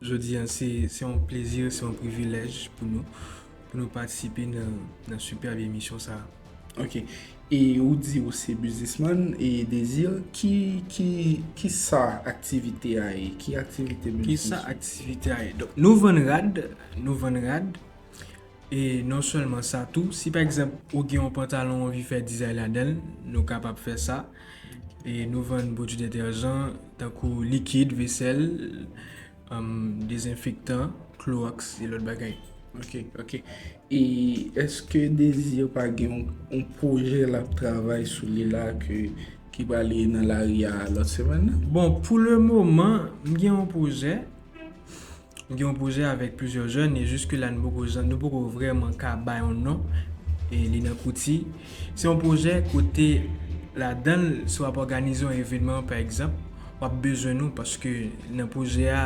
Jodi a se yon plezi, se yon privilèj pou nou, pou nou patisipe nan sipèb emisyon sa a. Ok, e ou di ou se biznisman, e Desir, ki sa aktivite a ye? Ki aktivite biznis ou? Ki sa aktivite a ye? Donk nou vann rad, nou vann rad. E non sèlman sa tou, si pa egzanp ou gen yon pantalon ou anvi fè dizay ladan l, nou kapab fè sa. E nou vann pwodui detèjan tankou likid vesèl, dezenfektan, klowòks e lòt bagay. Ok, ok. E èske Désir pa gen yon pwojè l ap travay sou li la ki prale nan lari a lòt semèn nan? Bon, pou lemoman, m gen yon pwojè. Nou gen yon pwojè avèk plizyè jèn e jiske la nou poko jan nou poko vrèman ka bay yon non e li nan kouti. Se yon pwojè kote ladan l si w ap òganize yon evenman pa egzanp w ap bezwen nou paske nan pwojè a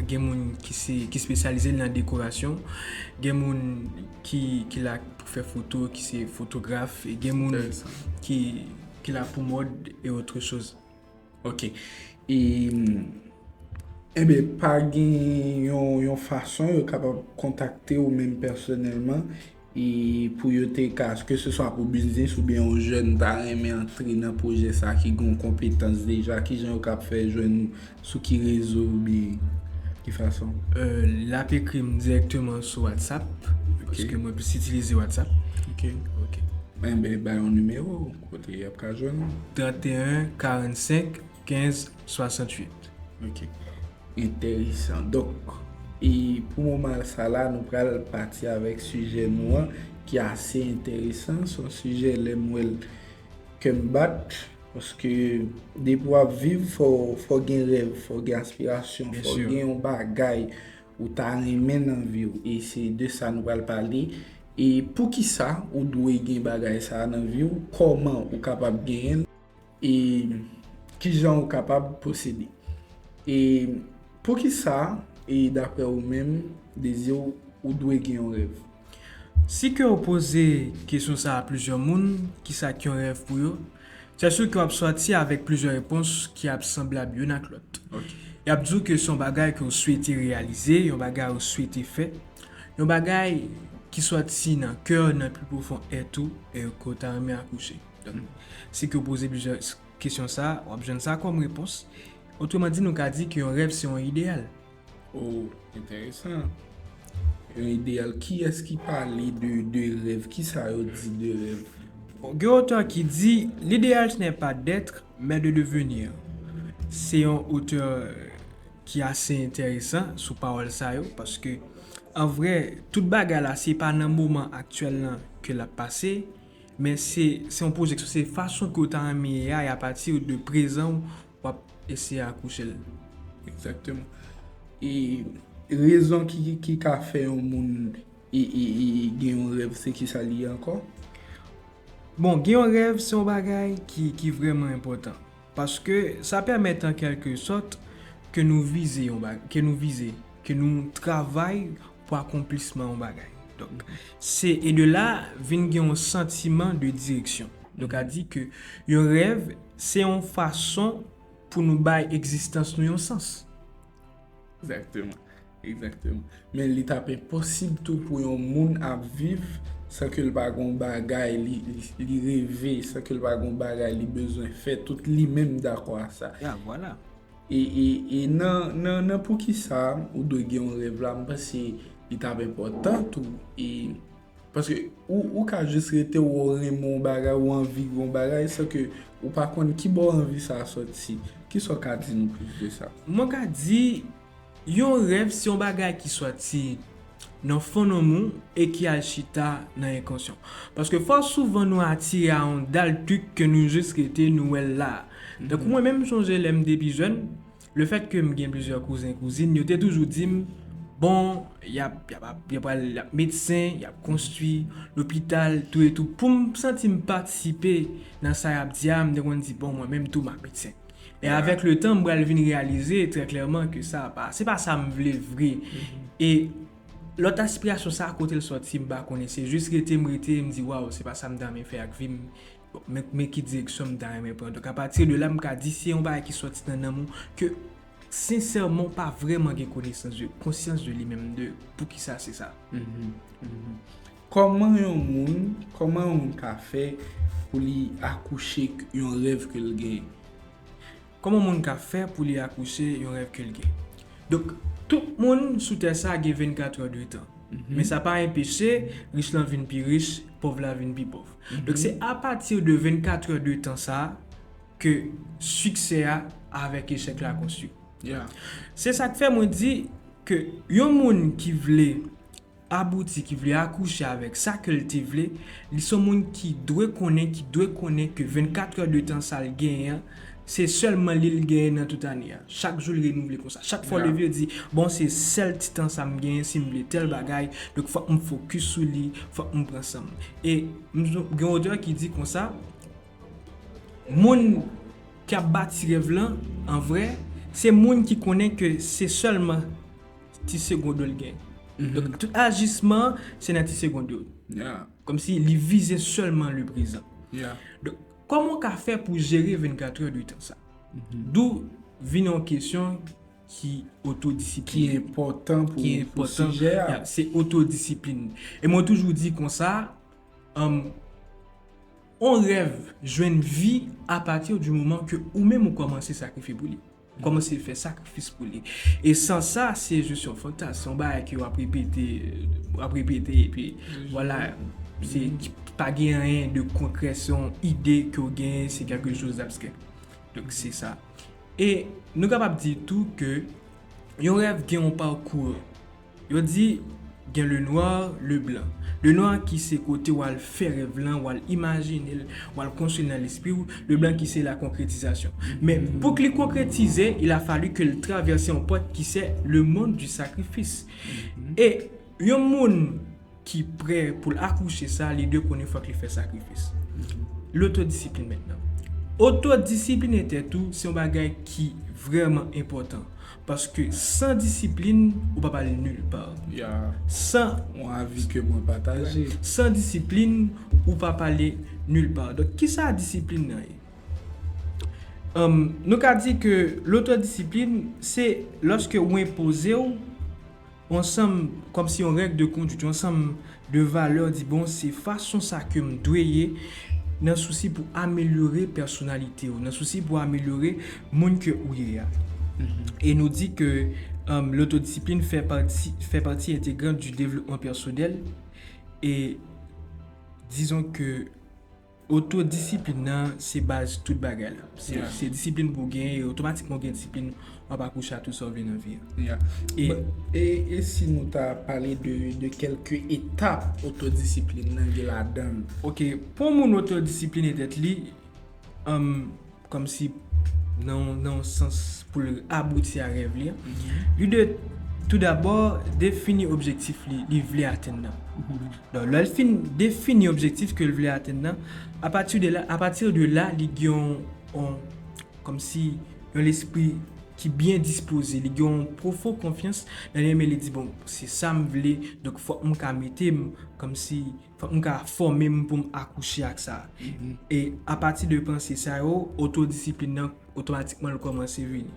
gen moun ki se ki spesyalize nan dekorasyon gen moun ki ki la pou fè foto ki se fotograf e gen moun ki ki la pou mòd e otre choz. Ok, e, enbe, pa gen yon fason yo kapab kontakte ou menm pèsonèlman e pou yo te ka, ke se swa pou biznis oubyen yon jèn ta renmen antre nan pwojè sa ki gen yon konpetans deja, ki jan yo kab fè jwenn ou, sou ki rezo oubyen ki fason? L ap ekri m dirèkteman sou WhatsApp, paske mwen plis itilize WhatsApp. Ok, enbe, bay yon nimewo ou. Kote yap ka jwenn ou? 31 45 15 68. Ok entèresan donk e pou moman sa la nou pral pati avèk sijè nou an ki ase entèresan son sijè lèm wèl kèm bat paske depi wap viv fò gen rèv fò gen aspirasyon fò gen yon bagay Ou ta renmen nan viw e se de sa nou pral pale e poukisa ou dwe gen bagay sa nan viw kòman ou kapab genyenl e kijan ou kapab posede e poukisa e daprè ou menm deziw ou dwe gen yon rèv. Si ke w poze kesyon sa a plizyè moun, kisa k yon rèv pou yo, sè su ke w ap sòti avèk plizyè repons ki ap sanblab youn ak lòt. Y ap di w ke se yon bagay ke w swete reyalize, yon bagay ou swete fè, yon bagay ki sòti nan kè w, nan pi pwofon èt ou, e ke w ta renmen akouche. Donk, si ke w poze plizyè kesyon sa a, w ap jwenn sa kòm repons. Otreman di, nou ka di ke yon rèv se yon ideyal. Oh enteresan Yon ideyal kiyès ki pale de rèv kisa yo di de rèv? Gen otè ki di L'idéal ce n'est pas d'être mais de devenir se yon otè ki ase enteresan sou pawòl sa yo paske an vrè tout bagay la se pa nan moman aktyèl lan ke l ap pase men se yon pwojeksyon se fason ke w ta renmen ye a e apati de prezan w wap eseye akouche l. Exactement. E rezon ki ka fè yon moun gen yon rèv se ki sa li ye ankò? Bon, gen yon rèv se yon bagay ki vrèman enpòtan. Paske sa pèmèt an kèlke sòt ke nou vize, ke nou travay pou akonplisman yon bagay. Donk, se e de la vin gen yon santiman de direksyon. Nou ka di ke yon rèv se yon fason pou nou bay egzistans nou yon sans. Egzakteman. Egzakteman. Men li ta pe posib tou pou yon moun ap viv san ke l pa gen yon bagay li reve, san ke l pa gen yon bagay li bezwen fè, tout li menm dakò a sa. Ya, vwala. E nan poukisa ou dwe gen yon rèv la, m panse li ta enpòtan tou. E, paske ou ka jis rete wè ou renmen yon bagay, ou anvi yon bagay, san ke ou pa konn ki bò anvi sa a sòti. Ki sa ou ka di nou plis de sa? Mwen ka di, Yon rèv se yon bagay ki sòti nan fon nanm ou e ki al chita nan enkonsyan. Paske fò souvan nou atire a yon dal trik ke nou jis rete nou wè l la. Tankou mwen menm m sonje lè m te pi jèn, le fèt ke m gen plizyè kouzen kouzin yo te toujou di m bon y ap yo pral y ap medsen, y ap konstwi lopital tou e tou. Pou m santi m patisipe nan sa y ap di a m te konn di bon mwen menm tou m ap medsen. E avèk le tan m pral vin reyalize trè klèman ke sa pa, se pa sa m vle vre. E lòt aspirasyon sa kote l sòti m pa konnen, se jis rete m rete m di waw se pa sa m ta renmen fè ak vi m, men ki direksyon m ta renmen pran. Donk apati de la m ka di se yon bagay ki sòti nan nanm ou ke sensèman ou pa vrèman gen konesans de, konsyans de li menm de poukisa se sa. Kòman yon moun, kòman yon moun ka fè pou li akouche yon rèv ke l gen? Kòman yon moun ka fè pou li akouche yon rèv ke l gen? Donk, tout moun sou tè sa gen 24 è de tan. Men sa pa enpeche rich lan vin pi rich, pòv la vin pi pòv. Donk, se apati de 24 è de tan sa ke siksè a avèk echèk la konstwi. Se sa k fè mwen di ke yon moun ki vle abouti, ki vle akouche avèk sa kè l te vle, li s on moun ki dwe konnen, ki dwe konnen ke 24 heures de temps sa l genyen an, se sèlman li l genyen nan tout ane a. Chak jou l renouvle konsa. Chak fwa w leve w di, bon se sèl ti tan sa m genyen si m vle tèl bagay, donk fòk m fokis sou li, fòk m pran san m. E gen yon otè ki di konsa, moun ki ap bati rèv lan, an vrè, se moun ki konnen ke se sèlman. ti segond yo l gen. Donk tout ajisman se nan ti segond yo. Kòm si li vize sèlman le prezan. Donk kòman w ka fè pou jere 24 heure de tan sa? Dou vin yon kesyon ki otodisiplin. Ki enpòtan pou sijè a. Se otodisiplin. E mwen toujou di konsa, on rèv jwenn vi a pati di moman ke ou menm ou kòmanse sakrifye pou li. Kòman se fè sakrifis pou li? E sans sa, se jis yon fantasm, se yon bagay ke w ap repete, w ap repete, epi vwala, se pa gen anyen de konkrè, se yon ide ke w genyen, se kèlke choz dabstrè. Donk se sa. E nou kapab di tou ke yon rèv gen yon parkour. Yo di gen le noir, le blanc. Le noir ki se kote w al fè rèv lan, w al imajine l, w al konstwi l nan lespri w, le blanc ki se la konkretizasyon. Men, pou k li konkretize, il a fallu ke l travèse yon pòt ki se le monde du sacrifice. E yon moun. ki prè pou l akouche sa li dwe konnen fòk li fè sakrifis. Lotodisiplin mentnan. Otodisipline tèt ou se yon bagay ki vrèman enpòtan paske san disiplin ou pap al nil pa. San yon avi ke mwen pataje. San disiplin ou pap ale nil pa. Donk kisa disiplin nan ye? Nou ka di ke lotodisiplin se lòske ou enpoze ou. Yon sanm, kòmsi yon règ de konduit, yon sanm de valè di bon se fason sa ke m dwe ye nan sousi pou amelyore pèsonalite ou, nan sousi pou amelyore moun ke ou ye a. E nou di ke lotodisiplin fè pati, fè pati entegran di devlopman pèsonèl e dizon ke. Oto disiplin nan se baz tout bagay la. Se disiplin pou w genyen e otomatikman ou gen disiplin w ap akouche a tout sa w vle nan vi a. E si nou ta pale de kelke etap oto disiplin nan gen ladan l? Ok, pou w moun oto disiplinen tèt li, Kòmsi nan yon sans pou l abouti a rèv li an, li dwe toudabò defini objektif li vle atenn nan. Donk, lè l fin defini objektif ke l vle atenn nan, apati de la, apati de la li gen yon, kòmsi yon lespri ki byen dispoze, li gen yon pwofon konfyans nan li menm e li di bon, se sa m vle, donk fòk m ka mete m kòmsi. Fòk m ka fòme m pou m akouche ak sa. E apati de panse sa yo, otodisiplin nan otomatikman l kòmanse vini.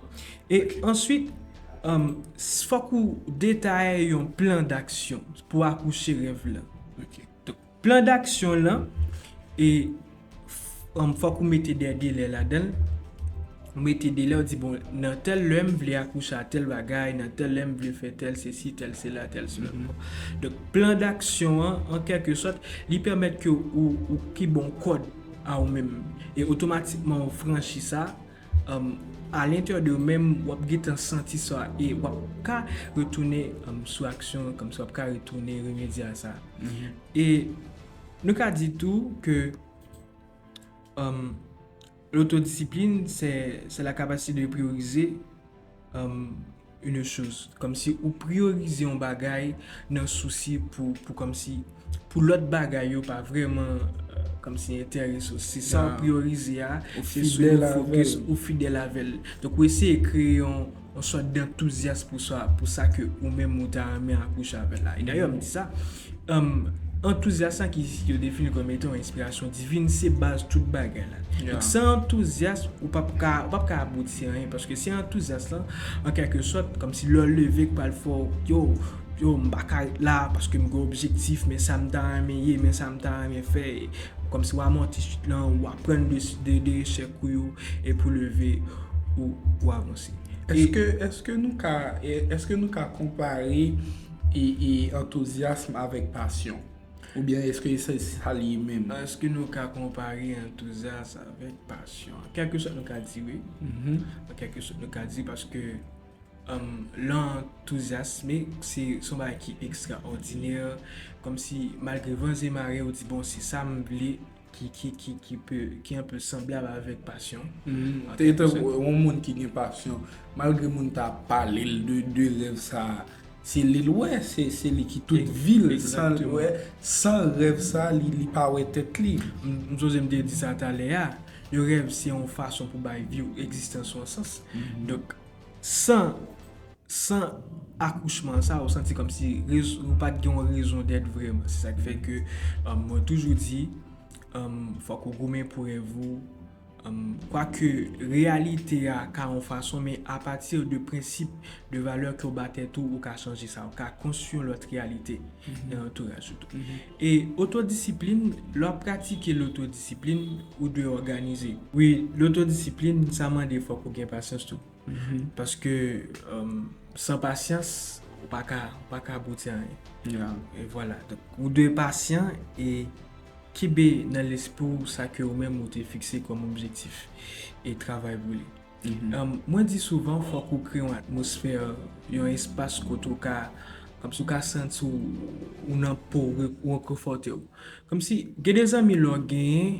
E answit, fòk ou detaye yon plan daksyon pou akouche rèv lan. Plan daksyon lan, e. fòk ou mete dè delè ladan l, ou mete delè ou di bon nan tèl lè m vle akouche a tèl bagay, nan tèl lè m vle fè tèl sesi, tèl sela, tèl sela. Donk plan daksyon an, an kèlke sòt, li pèmèt ke ou pi bon kòd a ou menm. E otomatikman ou franchi sa, a lentè de ou menm w ap gentan santi sa e w ap ka retounen sou aksyon, kòmsi w ap ka retounen remedye a sa. E Nou ka di tou ke l'auto-discipline c'est la capacité de prioriser une chose. Komsi ou priorize yon bagay nan sousi pou komsi pou lòt bagay yo pa vreman komsi enterese ou. Se sa ou priorize a, se sou li ou fokis, ou fidèl avèl. Donk ou eseye kreye yon. yon sòt dantouzyas pou sa, pou sa ke ou menm ou ta renmen akouche avè l la. E dayè m di sa, antouzyas la ki yo defini kòm etan yon enspirasyon divin, se baz tout bagay la. Donk san antouzyas, ou p ap ka, ou p ap ka abouti anyen, paske se antouzyas lan, an kèlke sòt, kòmsi lè w leve k pral fè w, yo, yo m pa ka ret la, paske m gen objektif, men sa m ta renmen ye, men sa m ta renmen fè, kòmsi w amòti sit lan, ou aprann de, de echèk ou yo. E pou leve ou pou avanse. Eske nou ka eske nou ka konpare e antouzyasm avèk pasyon? Ou byen eske se sa li ye menm? Eske nou ka konpare antouzyasm avèk pasyon? An kèlke sòt nou ka di wi. An kèlke sòt nou ka di paske lè w antouzyasme se yon bagay ki ekstraòdinè kòmsi malgre van e mare ou di bon se sa m vle. ki anpe sanblab avèk pasyon. Te gen tankou yon moun ki gen pasyon, malgre moun ta pale l de rèv sa, se li l wè, se li ki tout vi l san l wè, san rèv sa li pa wè tèt li. M soze m te di sa talè a, yon rèv se yon fason pou bay vi w, egzistans ou an sans. Donk, san San akouchman sa ou santi kòmsi ou pat gen yon rezon dèt vrèman. Se sak fè ke mwen toujou di fòk ou goumen pou rèv ou. Kwa ke reyalite a ka yon fason men a pati de prensip, de valè ke ou ba tèt ou, ou ka chanje sa. Ou ka konstwi yon lòt reyalite nan antouraj ou tou. E otodisiplin, lè wap pratike lotodisiplin, ou dwe òganize. Wi, lotodisiplin sa mande fòk ou gen pasyans tou. Paske san pasyans ou pa ka abouti a anyen. E vwala. Ou dwe pasyan e kenbe nan lespri ou sa ke ou menm ou te fikse kòm objektif e travay pou li. Mwen di souvan fòk ou kreye yon atmosfè, yon espas kote ou ka, kòmsi ou ka santi ou nan po ou, ou rekonfòte ou. Kòmsi gen de zanmi lè w genyen.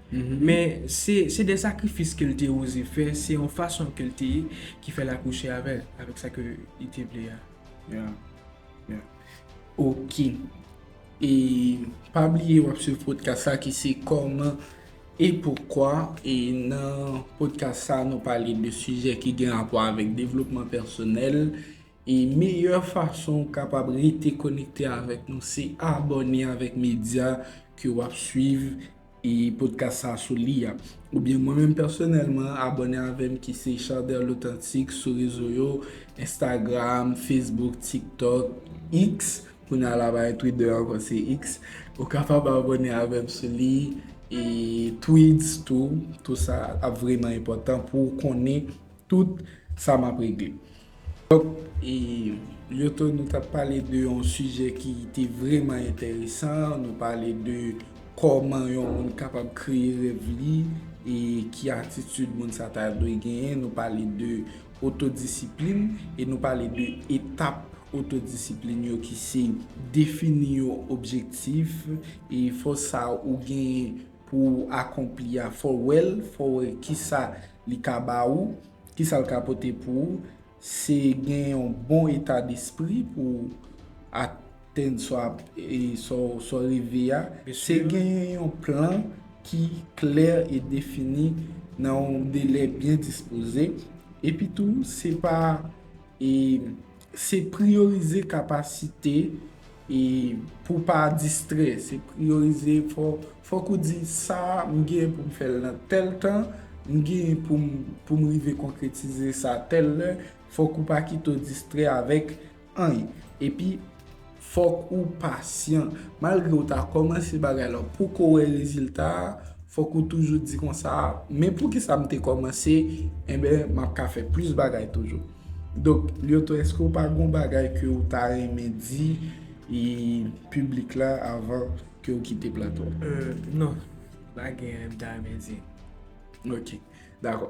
Men, se de sakrifis ke l te oze fè, se yon fason ke l te ye ki fè l akouche avè l, avèk sa ke li te vle a. Yeah. Yeah. Ok. E, pa bliye w ap swiv podcast sa ki se Kòman e Poukwa, e nan podcast sa nou pale de sijè ki gen rapò avèk devlopman pèsonèl, E meyè fason ou kapab rete konekte avèk nou se abòne avèk medya ke wap swiv e podcast sa sou li a. Ou byen mwen menm pèsonèlman abòne avèm ki se Chardel L'Authentique sou rezo yo, Instagram, Facebook, TikTok, X, kounye a la pa gen Twitter ankò se X, ou kapab abòne avèm sou li e Threads tou, tou sa ap vreman enpòtan pou ou konnen tout sa map regle. Donk e Lyoto nou tap pale de yon sijè ki te vreman enteresan, nou pale de kòman yon moun kapab kreye rèv li e ki atitid moun sa ta dwe genyen, nou pale de otodisiplin e nou pale de etap otodisiplin yo ki se defini yon objektif e fòs sa ou genyen pou ou akonpli a, fò wè l, fò wè ki sa li ka ba ou, ki sa l ka pote pou ou, se gen yon bon eta despri pou ou atenn sa ou reve a, se gen yon plan ki klè e defini nan yon delè byen dispoze, epi tou se pa Se priyorize kapasite e pou w pa distrè. Se priyorize, fòk ou di sa a m gen pou m fè l nan tèl tan, m gen pou m rive konkretize sa tèl lè, fòk ou pa kite w distrè avèk anyn. Epi, Fòk ou pasyan. Malgre ou ta kòmanse bagay la, ou poko wè rezilta a, fòk ou toujou di konsa, men poukisa m te kòmanse, enben m ap ka fè plis bagay toujou. Donk, Lyoto, èske ou pa gen yon bagay ke ou ta renmen di piblik la avan ke ou kite plato a? Non, m pa gen anyen m ta renmen di. Ok, dakò.